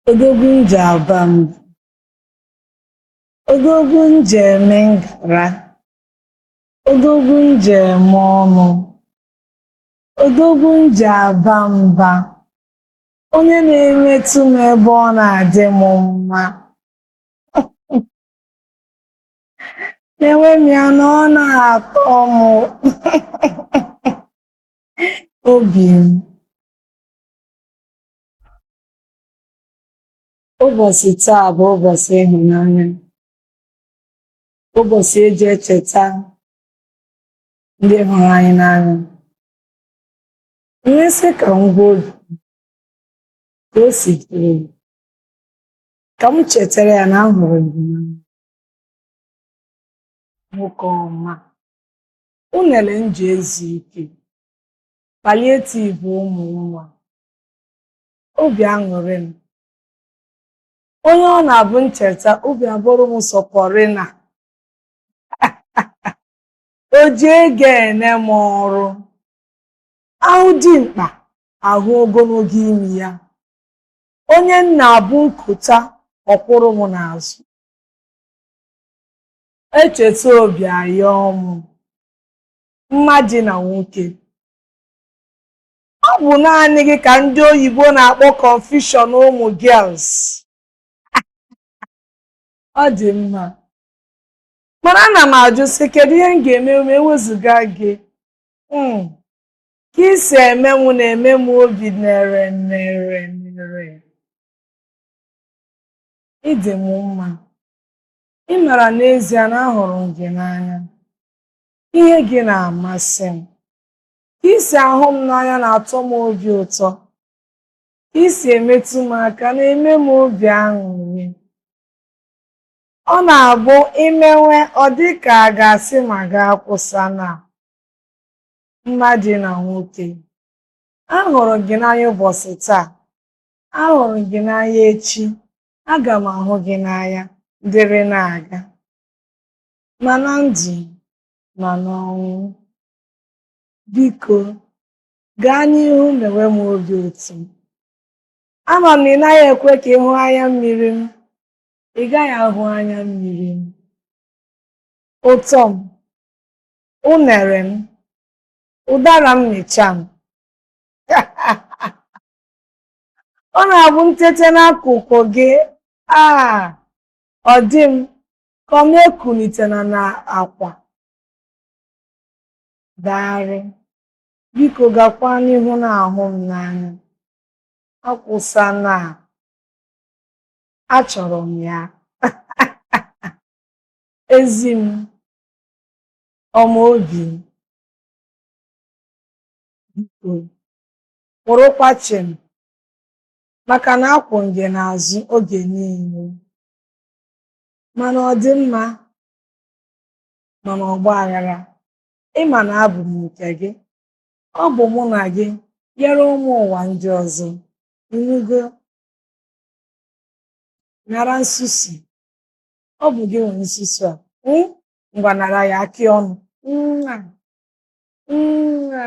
Odogwu m ji aba mba. Odogwu m ji eme ngara. Odogwu m ji eme ọnụ. Odogwu m ji aba mba. Onye na-emetụ m ebe ọ na-adị m mma. Na-eme m ya na ọ na-atọ m. Obi m. Ụbọchị taa bụ ụbọchị ịhụnanya, ụbọchị eji echeta ndị hụrụ anyị n'anya. M wee sị ka m gwa obi ka o si dịrị m, ka m chetara ya na m hụrụ ya n'anya. Nwoke ọma, unere m ji ezu ike, palliative ụmụ nwa obi aṅụrị m onye ọ na-abụ m cheta obi abụrụ m sọ pọrịna o ji ego ene m ọrụ ahụ dimkpa ahụ ogologo imi ya onye m na-abụ m kota ọ kwụrụ m n'azụ echeta obi ayọọ m mma dị na nwoke ọ bụ naanị gị ka ndị oyibo na-akpọ confusion ụmụ girls ọ dị mma mana ana m ajụ sị kedu ihe m ga-eme ma ewezụga gị hmm. ka i si eme m na-eme m obi nere nere nere ị dị m mma ị mara n'ezie na ahụrụ m gị n'anya ihe gị na-amasị m ka i si ahụ m n'anya na-atọ m obi ụtọ ka i si emetụ m aka na-eme m obi aṅụrị ọ na-abụ i mewe ọ dị ka a ga-asị ma gị akwụsịna mma dị na nwoke ahụrụ gị n'anya ụbọchị taa ahụrụ gị n'anya echi aga m ahụ gị n'anya dịrị na-aga ma na ndụ ma n'ọnwụ. Biko, gaa n'ihu mewe m obi ụtọ. Ama m na ị naghị ekwe ka ị hụ anya mmiri m, ị gaghị ahụ anya mmiri m. Ụtọ m, unere m, ụdara mmịcha m. Ọ na-abụ m tete n'akụkụ gị, ah, ọ dị m Kọ m ekulitena na akwa. Daarị. Biko gakwa n'ihu na-ahụ m n'anya. Akwụsana, achọrọ m ya. Ezi m ọma, obi m, biko kwụrụkwa chịm maka na akwụ m gị n'azụ oge niile. ma n'ọdịmma ma n'ọgba aghara ị ma na abụ m nke gị ọ bụ mụ na gị ghara ụmụ ụwa ndị ọzọ ị nụgo nara nsusu ọ bụ gị nwe nsusu a hmm? ngwa nara ya akị ọnụ Mwa. Mwa.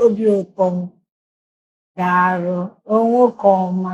obi ụtọ m daarụ nwoke ọma